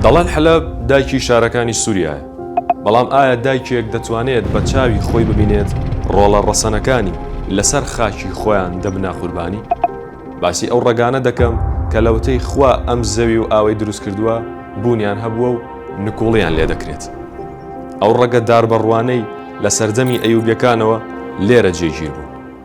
دەڵێن حەلەب دایکی شارەکانی سوریایە، بەڵام ئایا دایکێک دەتوانێت بە چاوی خۆی ببینێت ڕۆڵە ڕەسەنەکانی لەسەر خاکی خۆیان دەبنە قوربانی؟ باسی ئەو ڕەگانە دەکەم کە لەوەتەی خوا ئەم زەوی و ئاوەی دروست کردووە بوونیان هەبووە و نکوڵیان لێ دەکرێت. ئەو ڕەگە داربەڕوانەی لە سەردەمی ئەیوبیەکانەوە لێرە جێگیر بوون.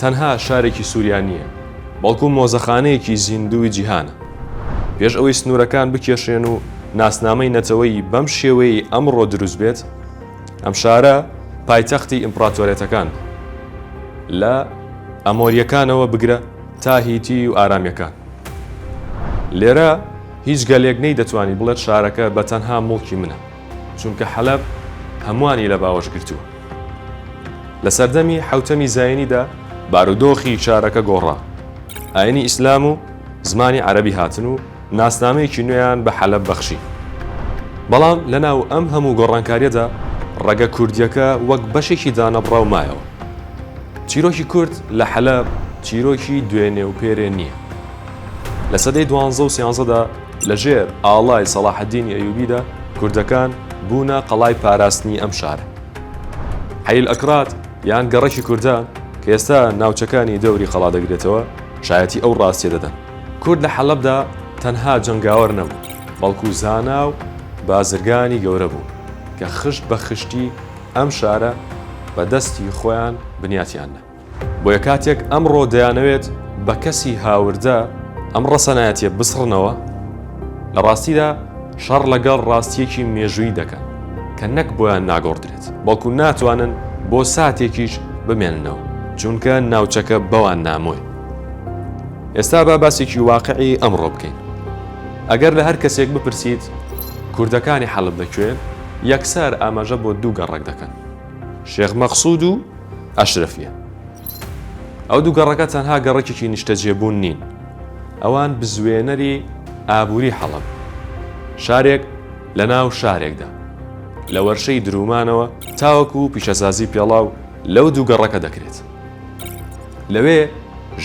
تەنها شارێکی سوریا نییە، بەڵکو مۆزەخانەیەکی زیندووی جیهانە. پێش ئەوەی سنوورەکان بکێشرێن و ناسنامەی نەتەوەیی بەم شێوەیەی ئەمڕۆ دروست بێت، ئەم شارە پایتەختی ئیمپڕاتۆرێتەکان بوو، لە ئەمۆرییەکانەوە بگرە تا هیتی و ئارامییەکان. لێرە هیچ گەلێک نەیدەتوانی بڵێت شارەکە بە تەنها موڵکی منە. چونکە حەلەب هەمووانی لە باوەش گرتووە. لە سەردەمی حەوتەمی زایینیدا بارودۆخی شارەکە گۆڕا، ئایینی ئیسلام و زمانی عەرەبی هاتن و ناسنامەیەکی نوێیان بە حەلەب بەخشی. بەڵام لەناو ئەم هەموو گۆڕانکارییەدا ڕەگە کوردییەکە وەک بەشێکی دانەبڕاو مایەوە. چیرۆکی کورد لە حەلەب چیرۆکی دوێنێ و پێرێ نییە. لە سەدەی دوانزە و سیانزەدا، لە ژێر ئاڵای سەڵاحەدینی ئەیوبیدا کوردەکان بوونە قەڵای پاراستنی ئەم شارە. حەیل ئەکراد یان گەڕەکی کوردان کە ئێستا ناوچەکانی دەوری قەڵا دەگرێتەوە شایەتی ئەو ڕاستیە دەدەن. کورد لە حەلەبدا تەنها جەنگاوەر نەبوو بەڵکو زانا و بازرگانی گەورە بوون کە خشت بە خشتی ئەم شارە بە دەستی خۆیان بنیاتیان نا. بۆیە کاتێک ئەمڕۆ دەیانەوێت بە کەسی هاوردە ئەم ڕەسەنایەتیە بسڕنەوە، لە ڕاستیدا شەڕ لەگەڵ ڕاستیەکی مێژوویی دەکەن کە نەک بۆیان ناگۆڕدرێت، بەڵکو ناتوانن بۆ ساتێکیش بمێننەوە، چونکە ناوچەکە بەوان نامۆی. ئێستا با باسێکی واقعی ئەمڕۆ بکەین. ئەگەر لە هەر کەسێک بپرسیت کوردەکانی حەلب لە کوێن، یەکسەر ئاماژە بۆ دوو گەڕەک دەکەن، شێخ مەقسود و، ئەشرەفیە. ئەو دوو گەڕەکە تەنها گەڕەکێکی نیشتەجێبوون نین، ئەوان بزوێنەری ئابووری حەڵەبن. شارێک لە ناو شارێکدا. لە وەرشەی دروومانەوە تاوەکو پیشەسازی پێڵاو لەو دوو گەڕەکە دەکرێت. لەوێ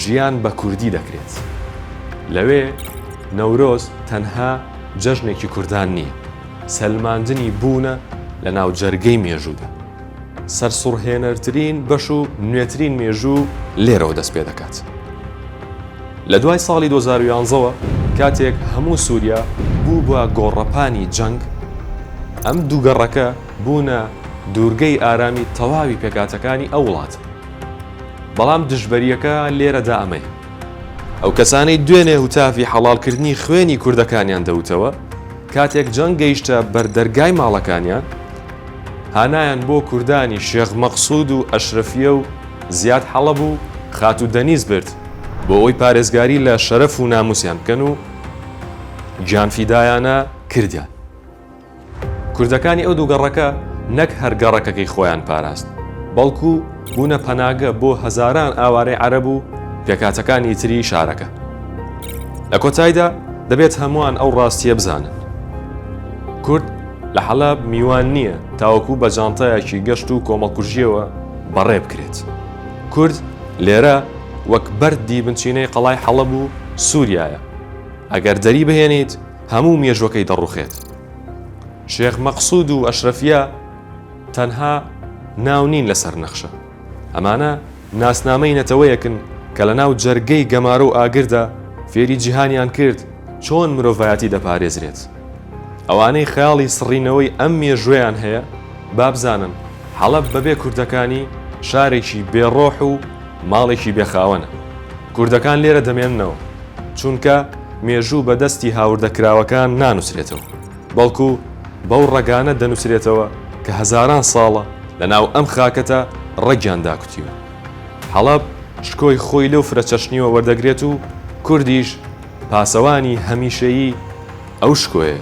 ژیان بە کوردی دەکرێت. لەوێ نەورۆز تەنها جەژنێکی کوردان نییە، سەلماندنی بوونە لە ناوجەرگەی مێژوودا. سەرسوڕهێنەرترین بەش و نوێترین مێژوو لێرەوە دەست پێ دەکات. لە دوای ساڵی دوو هەزار و یازدە وە کاتێک هەموو سوریا بوو بە گۆڕەپانی جەنگ، ئەم دوو گەڕەکە بوونە دوورگەی ئارامی تەواوی پێکهاتەکانی ئەو وڵاتە. بەڵام دژبەرییەکە لێرەدا ئەمەیە. ئەو کەسانەی دوێنێ هوتافی حەڵاڵکردنی خوێنی کوردەکانیان دەوتەوە، کاتێک جەنگ گەیشتە بەر دەرگای ماڵەکانیان، هانایان بۆ کوردانی شێخ مەقسود و ئەشرەفیە و زیاد حەڵەب و خاتوو دەنیز برد بۆ ئەوەی پارێزگاری لە شەرەف و ناموسیان بکەن و گیان فیدایانە کردیان. کوردەکانی ئەو دوو گەڕەکە نەک هەر گەڕەکەکەی خۆیان پاراست بەڵکو بوونە پەناگە بۆ هەزاران ئاوارەی عەرەب و پێکهاتەکانی تری شارەکە. لە کۆتایدا دەبێت هەمووان ئەو ڕاستیە بزانن کورد، لە حەلەب میوان نییە تاوەکو بە جانتایەکی گەشت و کۆمەڵکوژییەوە بەڕێ بکرێت. کورد لێرە وەک بەرد دی بنچینەی قەڵای حەڵەب و سووریایە. ئەگەر دەری بهێنیت هەموو مێژووەکەی دەڕووخێت. شێخ مەقسوود و ئەشرەفییە تەنها ناو نین لەسەر نەخشە. ئەمانە ناسنامەی نەتەوەیەکن کە لە ناو جەرگەی گەمارۆ و ئاگردا فێری جیهانیان کرد چۆن مرۆڤایەتی دەپارێزرێت. ئەوانەی خەیاڵی سڕینەوەی ئەم مێژوەیان هەیە بابزانن حەڵەب بەبێ کوردەکانی شارێکی بێ ڕۆح و ماڵێکی بێ خاوەنە. کوردەکان لێرە دەمێننەوە چونکە مێژوو بە دەستی هاوردە کراوەکان نانوسرێتەوە. بەڵکو بەو ڕەگانە دەنووسرێتەوە کە هەزاران ساڵە لە ناو ئەم خاکەتە ڕەگیان داکوتیوە. حەڵەب شکۆی خۆی لەو فرەچەشنییەوە وەردەگرێت و کوردیش پاسەوانی هەمیشەیی ئەو شکۆیەیە.